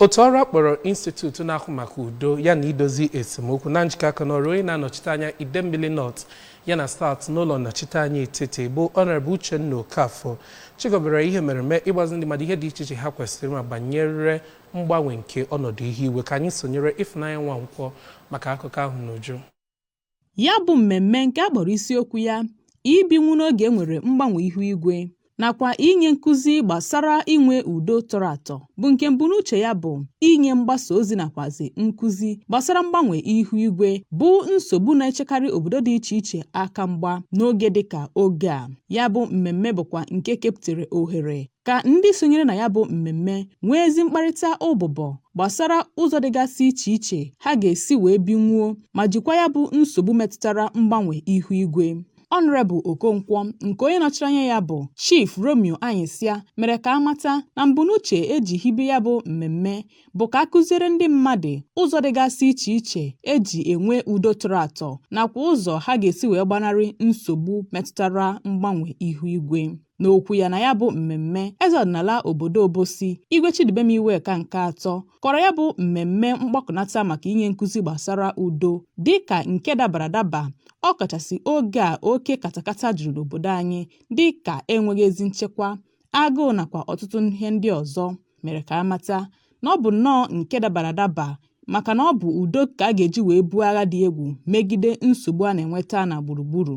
Otu ọrụ a kpọrọ Institute na-ahụ maka udo ya na idozi esemokwu na njikọ aka n'ọrụ onye na-anọchite anya Idemmili North ya na South n'ụlọ nnọchite anya etiti bụ Honorable Uchenna Okafor chịkọbara ihe mmereme ịgbazi ndị mmadụ ihe dị iche iche ha kwesịrị ịma banyere mgbanwe nke ọnọdụ ihu igwe ka anyị sonyere Ifunanya Nwankwọ maka akụkọ ahụ n'uju Ya bụ mmemme nke a kpọrọ isiokwu ya ibinwu n'oge e nwere mgbanwe ihu igwe nakwa inye nkụzi gbasara inwe udo tọrọ atọ bụ nke mbunuche ya bụ inye mgbasa ozi nakwazi nkụzi gbasara mgbanwe ihu igwe bụ nsogbu na-echekarị obodo dị iche iche aka mgba n'oge dịka oge a ya bụ mmemme bụkwa nke kepụtara ohere ka ndị sonyere na ya bụ mmemme nwee ezi mkparịta ụbụbọ gbasara ụzọ dịgasị iche iche ha ga-esi wee binwuo ma jikwa ya bụ nsogbu metụtara mgbanwe ihu igwe. Honourable Okonkwo nke onye nọchiri anya ya bụ Chief Romeo Anyịsịa mere ka a mata na mbunuche e ji hibe ya bụ mmemme bụ ka a kụziere ndị mmadụ ụzọ dịgasị iche iche e ji enwe udo tọrọ atọ nakwa ụzọ ha ga-esi wee gbanarị nsogbu metụtara mgbanwe ihu igwe. N'okwu ya na ya bụ mmemme, eze ọdịnala obodo Obosi, Igwe Chidubem Iweka nke atọ, kọrọ ya bụ mmemme mgbakọnata maka inye nkụzi gbasara udo dị ka nke dabara adaba ọ kachasị oge a oke katakata juru n'obodo anyị dị ka enweghị ezi nchekwa, agụụ nakwa ọtụtụ ihe ndị ọzọ mere ka a mata na ọ bụ nnọọ nke dabara adaba maka na ọ bụ udo ka a ga-eji wee buo agha dị egwu megide nsogbu a na-enweta na gburugburu.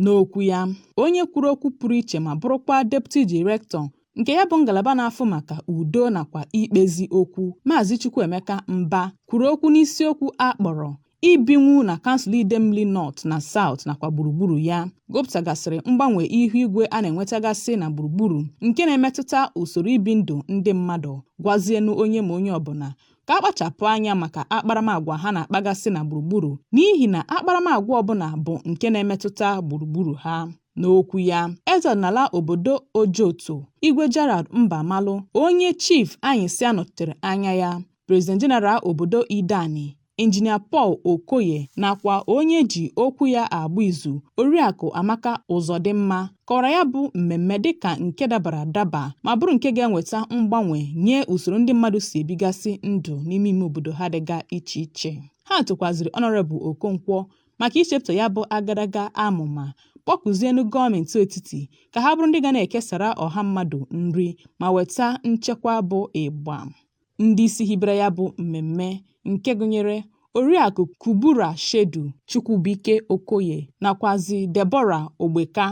N'okwu ya, onye kwuru okwu pụrụ iche ma bụrụkwa Deputy Director nke ya bụ ngalaba na-afụ maka udo nakwa ikpezi okwu, Maazị Chukwuemeka Mba kwuru okwu n'isiokwu a kpọrọ Ibinwu na kansụl Idemmili North na South nakwa gburugburu ya, gụpụtagasịrị mgbanwe ihu igwe a na-enwetagasị na gburugburu nke na-emetụta usoro ibi ndụ ndị mmadụ, gwazienụ onye ma onye ọbụla ka a kpachapụ anya maka akparamagwa ha na-akpagasị na gburugburu n'ihi na akparamagwa ọbụla bụ nke na-emetụta gburugburu ha. N'okwu ya, eze ọdịnala obodo Ojoto, Igwe Gerald Mbamalụ, onye Chief Anyịsịa nọchitere anya ya, President General obodo Ideani, Injinia Paul Okoye nakwa onye e ji okwu ya agba izu, Oriakụ Amaka Ụzọdịmma kọwara ya bụ mmemme dịka nke dabara adaba ma bụrụ nke ga-enweta mgbanwe nye usoro ndị mmadụ si ebigasị ndụ n'ime ime obodo ha dịga iche iche ha tokwaziri Honourable Okonkwo maka ichepụta ya bụ agadaga amụma kpọkuzienụ gọọmenti etiti ka ha bụrụ ndị ga na-ekesara ọha mmadụ nri ma weta nchekwa bụ ịgba ndị isi hibere ya bụ mmemme nke gụnyere Oriakụ Kubura Shedu, Chukwubuike Okoye nakwazị Deborah Ogbeka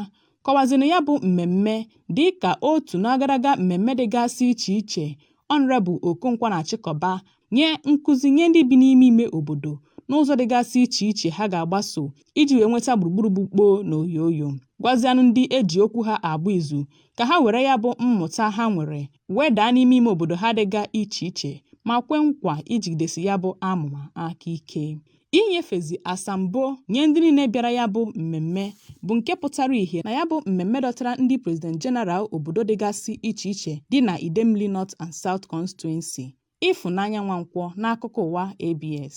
kọwazịrị na ya bụ mmemme dịka otu n'agadaga mmemme dịgasị iche iche Honorable Okonkwo na-achịkọba nye nkụzi nye ndị bi n'ime ime obodo n'ụzọ dịgasị iche iche ha ga-agbaso iji wee nweta gburugburu bụ kpoo na oyooyo, gwazianụ ndị e ji okwu ha agba izu ka ha were ya bụ mmụta ha nwere wedaa n'ime ime obodo ha dịga iche iche ma kwe nkwa ijigidesi ya bụ amụma aka ike inyefezi asambo nye ndị niile bịara ya bụ mmemme bụ nke pụtara ihe na ya bụ mmemme dọtara ndị president general obodo dịgasị iche iche dị na idemmili north and south constituency ịfụnanya nwankwọ n'akụkọ ụwa abs